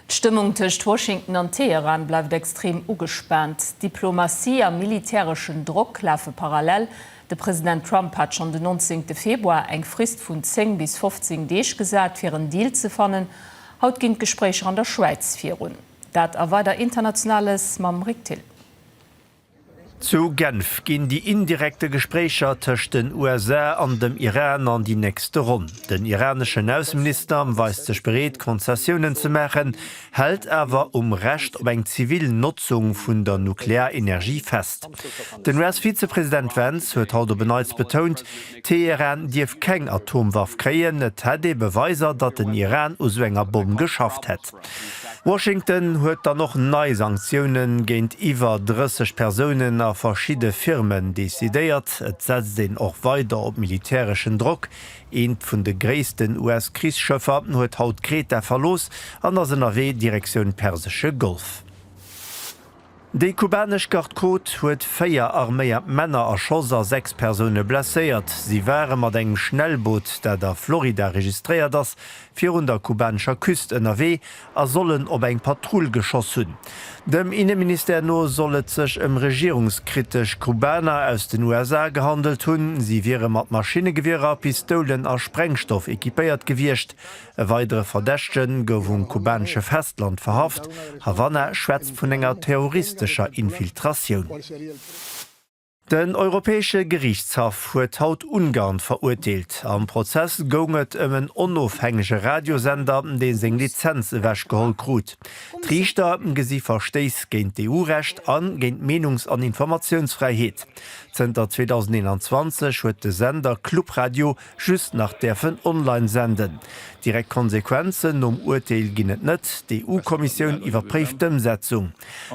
D'Stëmmung tëscht Washington an Teheran bleift extrem ugespaant. Diplomatie a militäreschen Drock lafe parallel. De President Trump hat schonn den 19 Februar eng Frist vun 10 bis 15 Deeg gesat, fir en Deal ze fannen. Haut ginn d'Gespréicher an der Schwäiz virun. Dat a weider Internationales mam Rick Thill. Zu Genf ginn déi indirekte Gespréicher tëscht den USA an dem Iran an déi nächste Ronn. Den iraneschen Ausseminister weist sech bereet, Konzessiounen ze maachen, hält awer um Recht op eng zivil Notzung vun der Nuklearenergie fest. Den US-Vizepresident Vance huet haut op en Neits betount, Teheran dierf keng Atomwaff kréien, et hätt ee Beweiser, datt den Iran u sou enger Bomm geschafft hätt. Washington huet dann och nei Sanktioune géint iwwer 30 Persounen a verschidde Firmen decidéiert. Et setzt een och weider op militäreschen Drock. Eent vun de gréissten US-Krichsschëffer huet haut Kreta verlooss an ass ënnerwee Direktioun Persesche Golf. Déi kubanesch Garde Côte huet véier arméiert Männer erschoss a sechs Persoune blesséiert. Si ware mat engem Schnellboot, dat a Florida registréiert ass, virun der kubanescher Küst ënnerwee a sollen op eng Patrull geschoss hunn. Dem Inneministère no soll et sech ëm regierungskritesch Kubaner aus den USA gehandelt hunn. Si wiere mat Maschinnegewierer, Pistoulen a Sprengstoff equipéiert gewiescht. E weidere Verdächte gouf um kubanesche Festland verhaft. Havanna schwätzt vun enger terroristescher Infiltratioun. Den Europäesche Geriichtshaff huet haut Ungarn verurteelt. Am Prozess goung et ëm en onofhängege Radiosender, dee seng Lizenz ewechgeholl krut. D'Riichter gesi Verstéiss géint d'EU-Recht a géint d'Meenungs an Informatiounsfräiheet. Zënter 2021 huet de Sender Club Radio just nach däerfen online senden. Direkt Konsequenzen nom Urteel ginn et net, d'EU-Kommissioun iwwerpréift d'Ëmsetzung.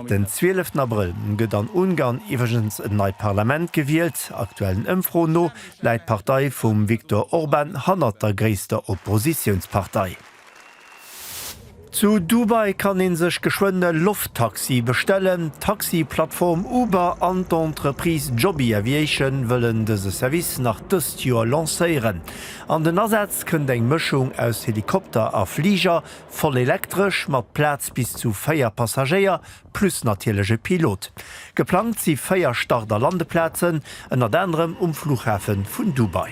Den 12 Abrëll gëtt an Ungarn iwwregens en neit Parlament gewielt. Aktuellen Ëmfroen no läit d'Partei vum Viktor Orban hannert der gréisster Oppositiounspartei. Zu Dubai kann ee sech geschwënn e Lofttaxi bestellen. D'Taxi-Plattform Uber an d'Entreprise Joby Aviation wëllen dëse Service nach dëst Joer lancéieren. An den Asaz kënnt eng Mëschung aus Helikopter a Fliger, voll elektresch, mat Plaz bis zu véier Passagéier, plus natierlech e Pilot. Geplangt si véier Start a Landeplazen, ënnert anerem um Fluchhafe vun Dubai.